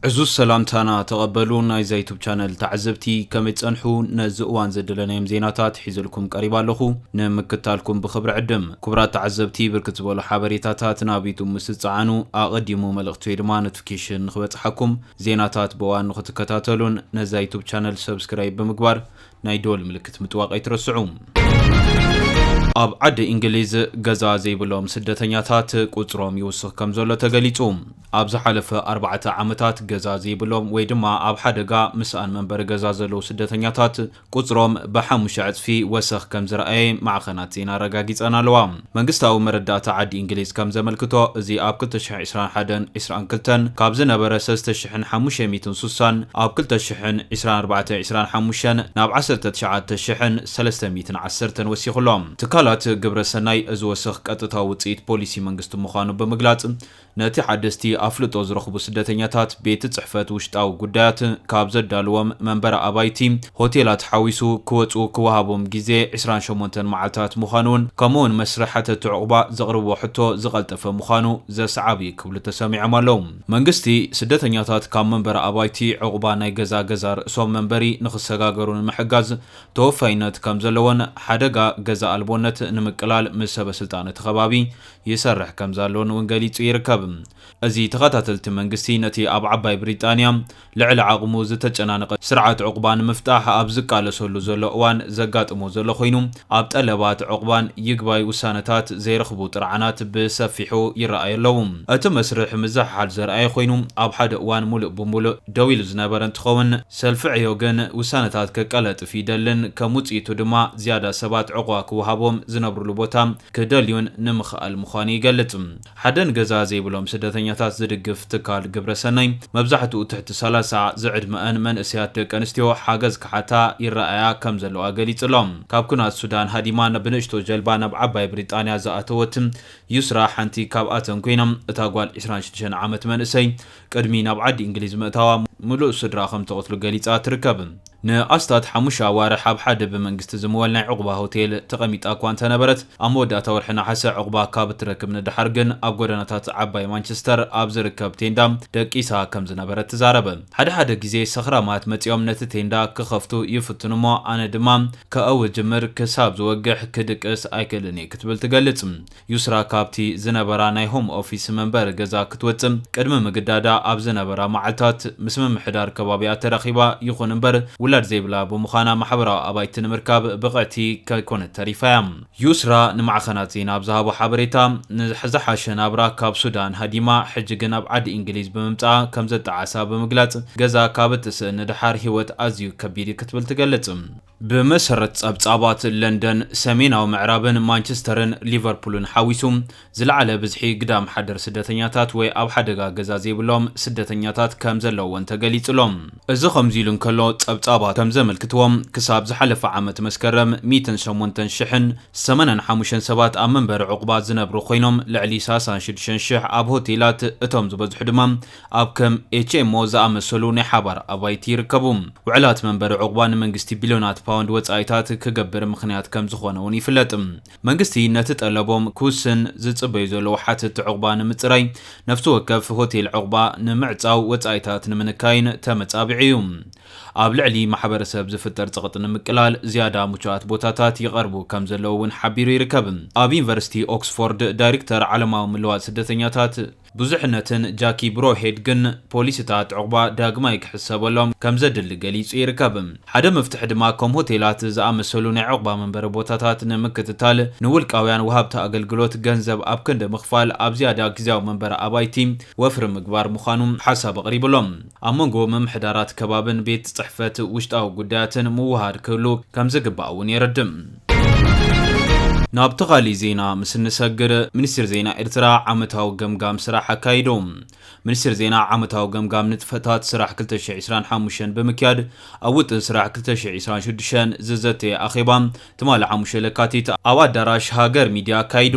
ዕዙዝ ሰላምታና ተቐበሉ ናይዛ ዩቱብ ቻነል ተዓዘብቲ ከመይ ትጸንሑ ነዚ እዋን ዘደለናዮም ዜናታት ሒዘልኩም ቀሪባ ኣለኹ ንምክታልኩም ብኽብሪ ዕድም ክቡራት ተዓዘብቲ ብርክት ዝበሉ ሓበሬታታት ናብ ዩቱብ ምስ ዝጸዓኑ ኣቐዲሙ መልእኽቲ ወይ ድማ ኖቲፊኬሽን ንኽበጽሓኩም ዜናታት ብእዋን ንኽትከታተሉን ነዛ ዩቱብ ቻነል ሰብስክራይብ ብምግባር ናይ ደወል ምልክት ምጥዋቕ ኣይትረስዑ። ኣብ ዓዲ እንግሊዝ ገዛ ዘይብሎም ስደተኛታት ቁጽሮም ይውስኽ ከምዘሎ ተገሊጹ። ኣብ ዝሓለፈ ኣርባዕተ ዓመታት ገዛ ዘይብሎም ወይ ድማ ኣብ ሓደጋ ምስኣን መንበሪ ገዛ ዘለዉ ስደተኛታት ቁጽሮም ብሓሙሽተ ዕጽፊ ወሰኽ ከምዝረኣየ ማዕኸናት ዜና ኣረጋጊጸን ኣለዋ። መንግስታዊ መረዳእታ ዓዲ እንግሊዝ ከም ዘመልክቶ፣ እዚ ኣብ ክልተ ሽሕን ዒስራን ሓደን ዒስራን ክልተን ካብ ዝነበረ ሰለስተ ሽሕን ሓሙሽተ ሚእትን ሱሳን ኣብ ክልተ ሽሕን ዒስራን ኣርባዕተን ዒስራን ሓሙሽተን ናብ ዓሰርተ ትሽዓተ ሽሕን ሰለስተ ሚእትን ዓሰርተን ወሲኹ'ሎ። ትካላት ግብረ ሰናይ፣ እዚ ወሰኽ ቀጥታዊ ውጽኢት ፖሊሲ መንግስቲ ምዃኑ ብምግላጽ፣ ነቲ ሓደስቲ ኣፍልጦ ዝረኽቡ ስደተኛታት ቤት ጽሕፈት ውሽጣዊ ጉዳያት ካብ ዘዳልዎም መንበሪ ኣባይቲ፣ ሆቴላት ሓዊሱ፣ ክወጹ ክወሃቦም ግዜ ዕስራን ሸሞንተን መዓልታት ምዃኑን ከምኡ'ውን መስርሕ ሓተቲ ዑቕባ ዘቕርብዎ ሕቶ ዝቐልጠፈ ምዃኑ ዘስዓብ'ዩ ክብሉ ተሰሚዖም ኣለዉ። መንግስቲ፣ ስደተኛታት ካብ መንበሪ ኣባይቲ ዑቕባ ናይ ገዛ ገዛ ርእሶም መንበሪ ንኽሰጋገሩ ንምሕጋዝ ተወፋይነት ከምዘለዎን ሓደጋ ገዛ ኣልቦነት ንምቅላል ምስ ሰበስልጣን እቲ ከባቢ ይሰርሕ ከምዘሎን እውን ገሊጹ ይርከብ። እዚ ተኸታተልቲ መንግስቲ ነቲ ኣብ ዓባይ ብሪጣንያ ልዕሊ ዓቕሙ ዝተጨናነቐ ስርዓት ዑቕባ ንምፍታሕ ኣብ ዝቃለሰሉ ዘሎ እዋን ዘጋጥሞ ዘሎ ኮይኑ ኣብ ጠለባት ዑቕባን ይግባይ ውሳነታት ዘይረኽቡ ጥርዓናት ብሰፊሑ ይረኣዩ ኣለዉ። እቲ መስርሕ ምዝሕሓል ዘርኣየ ኮይኑ ኣብ ሓደ እዋን ሙሉእ ብሙሉእ ደው ኢሉ ዝነበረ እንትኸውን ሰልፊ ዕዮ ግን ውሳነታት ከቀለጥፍ ይደልን ከም ውፅኢቱ ድማ ዝያዳ ሰባት ዑቕባ ክወሃቦም ዝነብርሉ ቦታ ክደልዩን ንምኽኣል ምዃኑ ይገልጽ። ሓደ ንገዛ ዘይብሎም ስደተኛታት ዝድግፍ ትካል ግብረ ሰናይ፣ መብዛሕትኡ ትሕቲ ሰላሳ ዝዕድመኣን መንእሰያት ደቂ ኣንስትዮ ሓገዝ ክሓታ ይረኣያ ከም ዘለዋ ገሊጹ'ሎ። ካብ ኲናት ሱዳን ሃዲማ ብንእሽቶ ጀልባ ናብ ዓባይ ብሪጣንያ ዝኣተወት ዩስራ ሓንቲ ካብኣተን ኰይና፣ እታ ጓል ዕስራን ሽዱሽተን ዓመት መንእሰይ፣ ቅድሚ ናብ ዓዲ እንግሊዝ ምእታዋ ምሉእ ስድራ ከም እተቐትሉ ገሊጻ ትርከብ። ንኣስታት ሓሙሽተ ኣዋርሕ ኣብ ሓደ ብመንግስቲ ዝምወል ናይ ዑቕባ ሆቴል ተቐሚጣ እኳ እንተ ነበረት፣ ኣብ መወዳእታ ወርሒ ነሓሰ ዑቕባ ካብ እትረክብ ንደሓር ግን ኣብ ጎደናታት ዓባይ ማንቸስተር ኣብ ዝርከብ ቴንዳ ደቂሳ ከም ዝነበረት ትዛረብ። ሓደ ሓደ ግዜ ሰኽራማት መጺኦም ነቲ ቴንዳ ክኸፍቱ ይፍትኑ እሞ ኣነ ድማ ከእዊ እጅምር፣ ክሳብ ዝወግሕ ክድቅስ ኣይክእልን እየ ክትብል ትገልጽ። ዩስራ ካብቲ ዝነበራ ናይ ሆም ኦፊስ መንበሪ ገዛ ክትወጽእ ቅድሚ ምግዳዳ ኣብ ዝነበራ መዓልታት ምስ ምምሕዳር ከባቢኣ ተራኺባ፣ ይኹን እምበር ውላድ ዘይብላ ብምዃና ማሕበራዊ ኣባይቲ ንምርካብ ብቕዕቲ ከይኮነት ተሪፋ እያ። ዩስራ ንማዕኸናት ዜና ኣብ ዝሃቦ ሓበሬታ፣ ንዝሓሸ ናብራ ካብ ሱዳን ሃዲማ ሕጂ ግን ኣብ ዓዲ ኢንግሊዝ ብምምጻኣ ከምዘጣዓሳ ብምግላጽ ገዛ ካብ እትስእን ንደሓር ህይወት ኣዝዩ ከቢድ እዩ ክትብል ትገልጽ። ብመሰረት ጸብጻባት ለንደን፣ ሰሜናዊ ምዕራብን ማንቸስተርን ሊቨርፑልን ሓዊሱ ዝለዓለ ብዝሒ ግዳም ሓደር ስደተኛታት ወይ ኣብ ሓደጋ ገዛ ዘይብሎም ስደተኛታት ከም ዘለዉወን ተገሊጹ ኣሎ። እዚ ከምዚ ኢሉ እንከሎ፣ ጸብጻባት ከም ዘመልክትዎ ክሳብ ዝሓለፈ ዓመት መስከረም ሚእትን ሸሞንተን ሽሕን ሰማንያን ሓሙሽተን ሰባት ኣብ መንበሪ ዑቕባ ዝነብሩ ኮይኖም ልዕሊ ሳሳን ሽዱሽተን ሽሕ ኣብ ሆቴላት እቶም ዝበዝሑ ድማ ኣብ ከም ኤችኤምኦ ዝኣመሰሉ ናይ ሓባር ኣባይቲ ይርከቡ። ውዕላት መንበሪ ዑቕባ ንመንግስቲ ቢልዮናት ፓውንድ ወጻኢታት ክገብር ምኽንያት ከም ዝኾነ'ውን ይፍለጥ። መንግስቲ ነቲ ጠለቦም ክውስን ዝጽበዩ ዘለዉ ሓተትቲ ዑቕባ ንምጽራይ፣ ነፍሲ ወከፍ ሆቴል ዑቕባ ንምዕጻው፣ ወጻኢታት ንምንካይን ተመጻቢዑ እዩ። ኣብ ልዕሊ ማሕበረሰብ ዝፍጠር ጸቕጢ ንምቅላል፣ ዝያዳ ምቹኣት ቦታታት ይቐርቡ ከም ዘለዉ እውን ሓቢሩ ይርከብ። ኣብ ዩኒቨርሲቲ ኦክስፎርድ ዳይርክተር ዓለማዊ ምልዋጥ ስደተኛታት፣ ብዙሕነትን ጃኪ ብሮውሄድ ግን ፖሊሲታት ዕቝባ ዳግማይ ክሕሰበሎም ከም ዘድሊ ገሊጹ ይርከብ። ሓደ መፍትሒ ድማ ከም ሆቴላት ዝኣመሰሉ ናይ ዕቝባ መንበሪ ቦታታት ንምክትታል ንውልቃውያን ወሃብቲ ኣገልግሎት ገንዘብ ኣብ ክንዲ ምኽፋል ኣብ ዝያዳ ግዝያዊ መንበሪ ኣባይቲ ወፍሪ ምግባር ምዃኑ ሓሳብ ኣቕሪቡ ኣሎ። ኣብ መንጎ ምምሕዳራት ከባቢን ቤት ጽሕፈት ውሽጣዊ ጉዳያትን ምውህሃድ ክህሉ ከም ዝግባእ እውን የረድእ። ናብቲ ካሊእ ዜና ምስ እንሰግር፣ ሚኒስትሪ ዜና ኤርትራ ዓመታዊ ገምጋም ስራሕ ኣካይዱ። ሚኒስትሪ ዜና ዓመታዊ ገምጋም ንጥፈታት ስራሕ ክልተ ሽሕ ዒስራን ሓሙሽተን ብምክያድ ኣብ ውጥን ስራሕ ክልተ ሽሕ ዒስራን ሽዱሽተን ዝዘተየ ኣኼባ ትማሊ ሓሙሽተ ለካቲት ኣብ ኣዳራሽ ሃገር ሚድያ ኣካይዱ።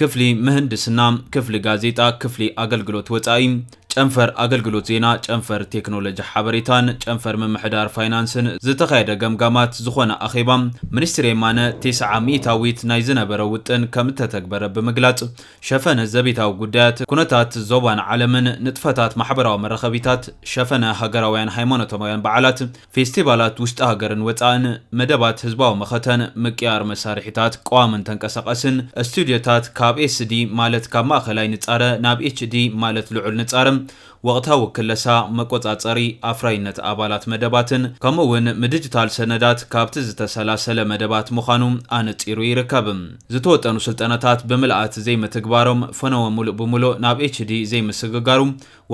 ክፍሊ ምህንድስና፣ ክፍሊ ጋዜጣ፣ ክፍሊ ኣገልግሎት ወጻኢ፣ ጨንፈር ኣገልግሎት ዜና፣ ጨንፈር ቴክኖሎጂ ሓበሬታን ጨንፈር ምምሕዳር ፋይናንስን ዝተኻየደ ገምጋማት ዝኾነ ኣኼባ ሚኒስትር የማነ ቴስዓ ሚኢታዊት ናይ ዝነበረ ውጥን ከምእተተግበረ ብምግላጽ ሸፈነ ዘቤታዊ ጉዳያት ኩነታት ዞባን ዓለምን ንጥፈታት ማሕበራዊ መራኸቢታት ሸፈነ ሃገራውያን ሃይማኖታውያን በዓላት ፌስቲቫላት ውሽጢ ሃገርን ወፃእን፣ መደባት ህዝባዊ መኸተን፣ ምቅያር መሳርሒታት ቀዋምን ተንቀሳቐስን፣ ስቱድዮታት ካብ ኤስዲ ማለት ካብ ማእኸላይ ንፃረ ናብ ኤችዲ ማለት ልዑል ንፃረ፣ ወቕታዊ ክለሳ፣ መቆፃፀሪ ኣፍራይነት ኣባላት መደባትን ከምኡ እውን ምድጅታል ሰነዳት ካብቲ ዝተሰላሰለ መደባት ምዃኑ ኣነፂሩ ይርከብ። ዝተወጠኑ ስልጠናታት ብምልኣት ዘይምትግባሮም ፈነወ ሙሉእ ብሙሉእ ናብ ኤችዲ ዘይምስግጋሩ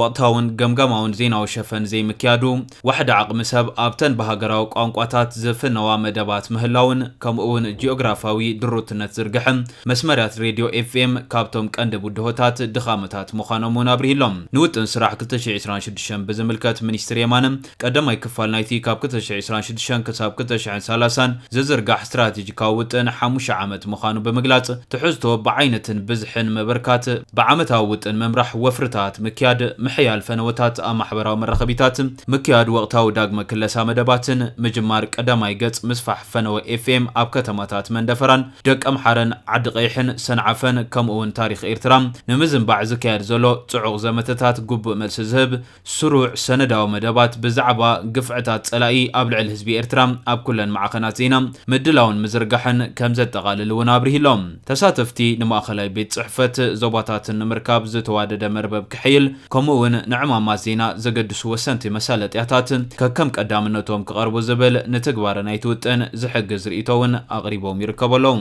ወቕታውን ገምጋማውን ዜናዊ ሸፈን ዘይምክያዱ፣ ዋሕዲ ዓቕሚ ሰብ ኣብተን ብሃገራዊ ቋንቋታት ዝፍነዋ መደባት ምህላውን ከምኡ'ውን ጂኦግራፍያዊ ድሩትነት ዝርግሐ መስመርያት ሬድዮ FM ካብቶም ቀንዲ ብድሆታት ድኻመታት ምዃኖም'ውን ኣብሪሁ'ሎ። ንውጥን ስራሕ ክልተ ሽሕን ዕስራን ሽዱሽተን ብዝምልከት ሚኒስትር የማነ፣ ቀዳማይ ክፋል ናይቲ ካብ ክልተ ሽሕን ዕስራን ሽዱሽተን ክሳብ ክልተ ሽሕን ሰላሳን ዝዝርጋሕ ስትራቴጂካዊ ውጥን ሓሙሽተ ዓመት ምዃኑ ብምግላጽ፣ ትሕዝቶ፣ ብዓይነትን ብዝሕን ምብርካት፣ ብዓመታዊ ውጥን ምምራሕ፣ ወፍርታት ምክያድ፣ ምሕያል ፈነወታት ኣብ ማሕበራዊ መራኸቢታት፣ ምክያድ ወቕታዊ ዳግመ ክለሳ መደባትን፣ ምጅማር ቀዳማይ ገጽ ምስፋሕ ፈነወ ኤፍኤም ኣብ ከተማታት መንደፈራን፣ ደቀምሓረን፣ ዓዲቐይሕን፣ ሰንዓፈን፣ ከምኡ'ውን ታሪኽ ኤርትራ ንምዝንባዕ ዝካየድ ዘሎ ጽዑቕ ዘመተታት ግቡእ መልሲ ዝህብ ስሩዕ ሰነዳዊ መደባት ብዛዕባ ግፍዕታት ጸላኢ ኣብ ልዕል ህዝቢ ኤርትራ ኣብ ኩለን ማዕኸናት ዜና ምድላውን ምዝርጋሕን ከምዘጠቓልል እውን ኣብሪሁ ኣሎ። ተሳተፍቲ ንማእኸላይ ቤት ጽሕፈት ዞባታትን ንምርካብ ዝተዋደደ መርበብ ክሕይል ከምኡ እውን ንዕማማት ዜና ዘገድሱ ወሰንቲ መሳለጥያታት ከከም ቀዳምነቶም ክቐርቡ ዝብል ንትግባረ ናይቲ ውጥን ዝሕግዝ ርእይቶ እውን ኣቕሪቦም ይርከቡ ኣለው።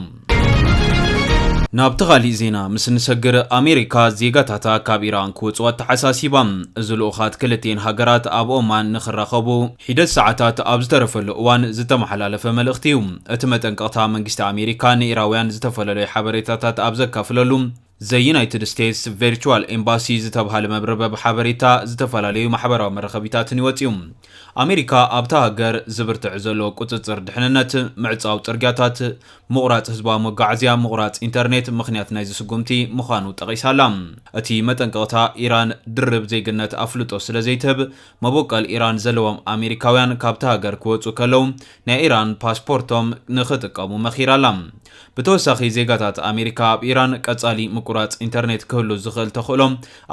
ናብቲ ኻሊእ ዜና ምስ እንሰግር ኣሜሪካ ዜጋታታ ካብ ኢራን ክወፁ ኣተሓሳሲባ። እዚ ልኡኻት ክልቲኤን ሃገራት ኣብ ኦማን ንክራኸቡ ሒደት ሰዓታት ኣብ ዝተረፈሉ እዋን ዝተመሓላለፈ መልእኽቲ እዩ። እቲ መጠንቀቕታ መንግስቲ ኣሜሪካ ንኢራውያን ዝተፈለለዩ ሓበሬታታት ኣብ ዘካፍለሉ፣ ዘ ዩናይትድ ስቴትስ ቨርቹዋል ኤምባሲ ዝተብሃለ መብርበብ ሓበሬታ ዝተፈላለዩ ማሕበራዊ መራኸቢታትን እዩ ወጺኡ። ኣሜሪካ ኣብታ ሃገር ዝብርትዕ ዘሎ ቁጽጽር ድሕንነት፣ ምዕጻው ጽርግያታት፣ ምቑራጽ ህዝባዊ መጓዓዝያ፣ ምቑራጽ ኢንተርኔት ምኽንያት ናይዚ ስጉምቲ ምዃኑ ጠቒሳ ኣላ። እቲ መጠንቀቕታ፣ ኢራን ድርብ ዜግነት ኣፍልጦ ስለ ዘይትህብ፣ መቦቀል ኢራን ዘለዎም ኣሜሪካውያን ካብታ ሃገር ክወጹ ከለው ናይ ኢራን ፓስፖርቶም ንኽጥቀሙ መኺራ ኣላ። ብተወሳኺ ዜጋታት ኣሜሪካ ኣብ ኢራን ቀጻሊ ምቁራጽ ኢንተርኔት ክህሉ ዝኽእል ተኽእሎ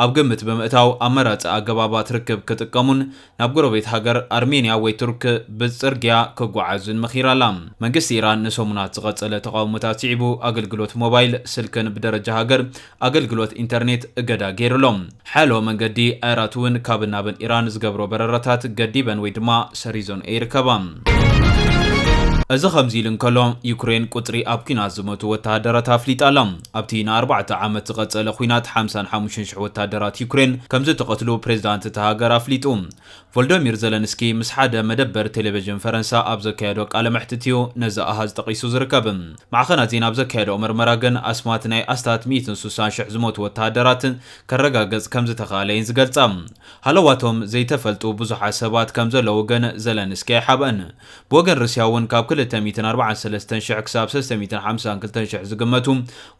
ኣብ ግምት ብምእታው ኣማራጺ ኣገባባት ርክብ ክጥቀሙን ናብ ጎረቤት ሃገር ኣርሜንያ ወይ ቱርክ ብጽርግያ ክጓዓዙን መኺራ ኣላ። መንግስቲ ኢራን ንሰሙናት ዝቐጸለ ተቓውሞታት ስዒቡ ኣገልግሎት ሞባይል ስልክን ብደረጃ ሃገር ኣገልግሎት ኢንተርኔት እገዳ ገይሩ ኣሎ። ሓያሎ መንገዲ ኣየራት'ውን ካብን ናብን ኢራን ዝገብሮ በረራታት ገዲበን ወይ ድማ ሰሪዞንኦ ይርከባ። እዚ ከምዚ ኢሉ እንከሎ፣ ዩክሬን ቁጽሪ ኣብ ኲናት ዝሞቱ ወተሃደራት ኣፍሊጣ ኣላ። ኣብቲ ንኣርባዕተ ዓመት ዝቐጸለ ኲናት ሓምሳን ሓሙሽተን ሽሕ ወተሃደራት ዩክሬን ከምዝተቐትሉ ፕሬዝዳንት እታ ሃገር ኣፍሊጡ። ቮልዶሚር ዘለንስኪ ምስ ሓደ መደበር ቴሌቭዥን ፈረንሳ ኣብ ዘካየዶ ቃለ መሕትት እዩ ነዚ ኣሃዝ ጠቒሱ ዝርከብ። ማዕኸናት ዜና ኣብ ዘካየደኦ መርመራ ግን ኣስማት ናይ ኣስታት ሚእትን ሱሳን ሽሕ ዝሞቱ ወተሃደራት ከረጋገጽ ከም ዝተኻእለ እየን ዝገልጻ። ሃለዋቶም ዘይተፈልጡ ብዙሓት ሰባት ከም ዘለዉ ግን ዘለንስኪ ኣይሓብኣን። ብወገን ሩስያ እውን ካብ ክልተ ሚእትን ኣርባዓን ሰለስተን ሽሕ ክሳብ ሰለስተ ሚእትን ሓምሳን ክልተን ሽሕ ዝግመቱ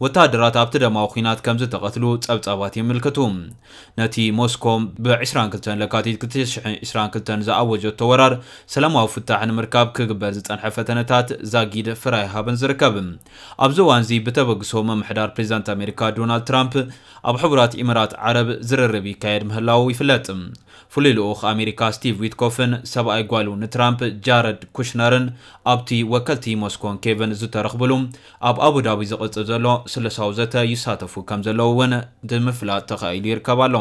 ወተሃደራት ኣብቲ ደማዊ ኲናት ከም ዝተቐትሉ ጸብጻባት የምልክቱ። ነቲ ሞስኮ ብ ዕስራን ክልተን ለካቲት ክልተ ሽሕን ዕስራን ክልተን ዝኣወጀቶ ወራር ሰላማዊ ፍታሕ ንምርካብ ክግበር ዝጸንሐ ፈተነታት ዛጊድ ፍረ ኣይሃበን ዝርከብ። ኣብዚ እዋንዚ ብተበግሶ ምምሕዳር ፕሬዚዳንት ኣሜሪካ ዶናልድ ትራምፕ ኣብ ሕቡራት ኢምራት ዓረብ ዝርርብ ይካየድ ምህላዉ ይፍለጥ። ፍሉይ ልኡኽ ኣሜሪካ ስቲቭ ዊትኮፍን ሰብኣይ ጓሉ ንትራምፕ ጃረድ ኩሽነርን ኣብቲ ወከልቲ ሞስኮን ኬቭን ዝተረኽብሉ ኣብ ኣቡዳቢ ዝቕጽል ዘሎ ስሉሳዊ ዘተ ይሳተፉ ከምዘለዉ እውን ብምፍላጥ ተኻኢሉ ይርከብ ኣሎ።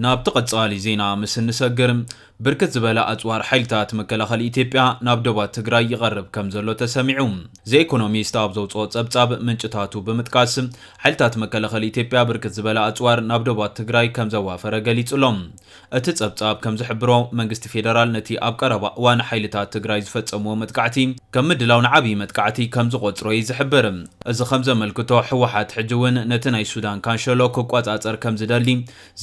ናብቲ ቀጻሊ ዜና ምስ እንሰግር፣ ብርክት ዝበለ ኣጽዋር ሓይልታት መከላኸሊ ኢትዮጵያ ናብ ዶባት ትግራይ ይቐርብ ከምዘሎ ተሰሚዑ። ዘ ኢኮኖሚስት ኣብ ዘውጽኦ ጸብጻብ ምንጭታቱ ብምጥቃስ፣ ሓይልታት መከላኸሊ ኢትዮጵያ ብርክት ዝበለ ኣጽዋር ናብ ዶባት ትግራይ ከምዘዋፈረ ገሊጹ'ሎ። እቲ ጸብጻብ ከም ዝሕብሮ፣ መንግስቲ ፌደራል ነቲ ኣብ ቀረባ እዋን ሓይልታት ትግራይ ዝፈጸምዎ መጥቃዕቲ ከም ምድላው ንዓብዪ መጥቃዕቲ ከም ዝቖጽሮ'ዩ ዝሕብር። እዚ ከም ዘመልክቶ፣ ህወሓት ሕጂ እውን ነቲ ናይ ሱዳን ካንሸሎ ክቆጻጸር ከም ዝደሊ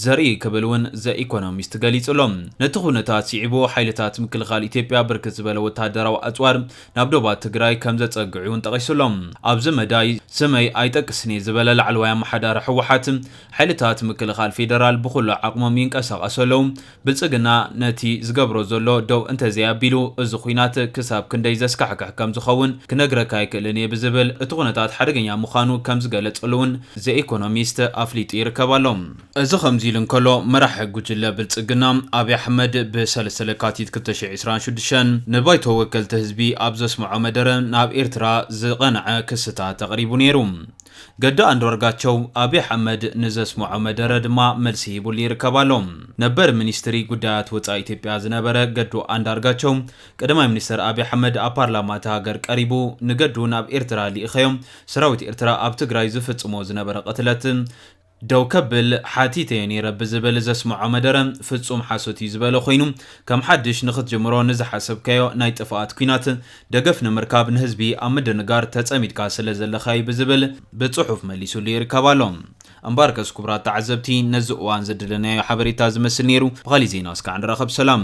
ዘርኢ'ዩ ክብል እውን ዘ ኢኮኖሚስት ገሊጹ'ሎ። ነቲ ኵነታት ስዒቡ ሓይልታት ምክልኻል ኢትዮጵያ ብርክት ዝበለ ወተሃደራዊ ኣጽዋር ናብ ዶባት ትግራይ ከም ዘጸግዑ'ውን ጠቒሱ'ሎ። ኣብዚ መዳይ፣ ስመይ ኣይጠቅስን'የ ዝበለ ላዕለዋይ ኣመሓዳሪ ህወሓት፣ ሓይልታት ምክልኻል ፌደራል ብኹሉ ዓቕሞም ይንቀሳቐሱ ኣለዉ። ብልፅግና ነቲ ዝገብሮ ዘሎ ደው እንተዘይኣቢሉ እዚ ኹናት ክሳብ ክንደይ ዘስካሕክሕ ከምዝኸውን ክነግረካ ኣይክእልን እየ ብዝብል እቲ ኩነታት ሓደገኛ ምዃኑ ከምዝገለፀሉ እውን ዘ ኢኮኖሚስት ኣፍሊጡ ይርከብ ኣሎ። እዚ ከምዚ ኢሉ እንከሎ መራሒ ጉጅለ ብልፅግና ኣብይ ኣሕመድ ብ ሰለስተ ለካቲት ክልተ ሽሕ ዒስራን ሽዱሽተን ንባይቶ ወከልቲ ህዝቢ ኣብ ዘስመዖ መደረ ናብ ኤርትራ ዝቐንዐ ክስታት ኣቕሪቡ ነይሩ። ገዱ ኣንድርጋቸው፣ ኣብይ ኣሕመድ ንዘስመዖ መደረ ድማ መልሲ ሂቡሉ ይርከብ ኣሎ። ነበር ሚኒስትሪ ጉዳያት ወጻኢ ኢትዮጵያ ዝነበረ ገዱ ኣንዳርጋቸው፣ ቀዳማይ ሚኒስተር ኣብይ ኣሕመድ ኣብ ፓርላማ እታ ሃገር ቀሪቡ፣ ንገዱ ናብ ኤርትራ ልኢኸዮ፣ ሰራዊት ኤርትራ ኣብ ትግራይ ዝፍጽሞ ዝነበረ ቅትለት፣ ደው ከብል ሓቲተዮ ነይረ ብዝብል ዘስመዖ መደረ ፍጹም ሓሶት እዩ ዝበለ ኮይኑ ከም ሓድሽ ንኽትጅምሮ ንዝሓሰብካዮ ናይ ጥፍኣት ኲናት ደገፍ ንምርካብ ንህዝቢ ኣብ ምድንጋር ተጸሚድካ ስለ ዘለኻ እዩ ብዝብል ብጽሑፍ መሊሱሉ ይርከብ ኣሎ። እምበኣርከስ ክቡራት ተዓዘብቲ ነዚ እዋን ዘደለናዮ ሓበሬታ ዝመስል ነይሩ። ብኻሊእ ዜና እስካዕ ንራኸብ ሰላም።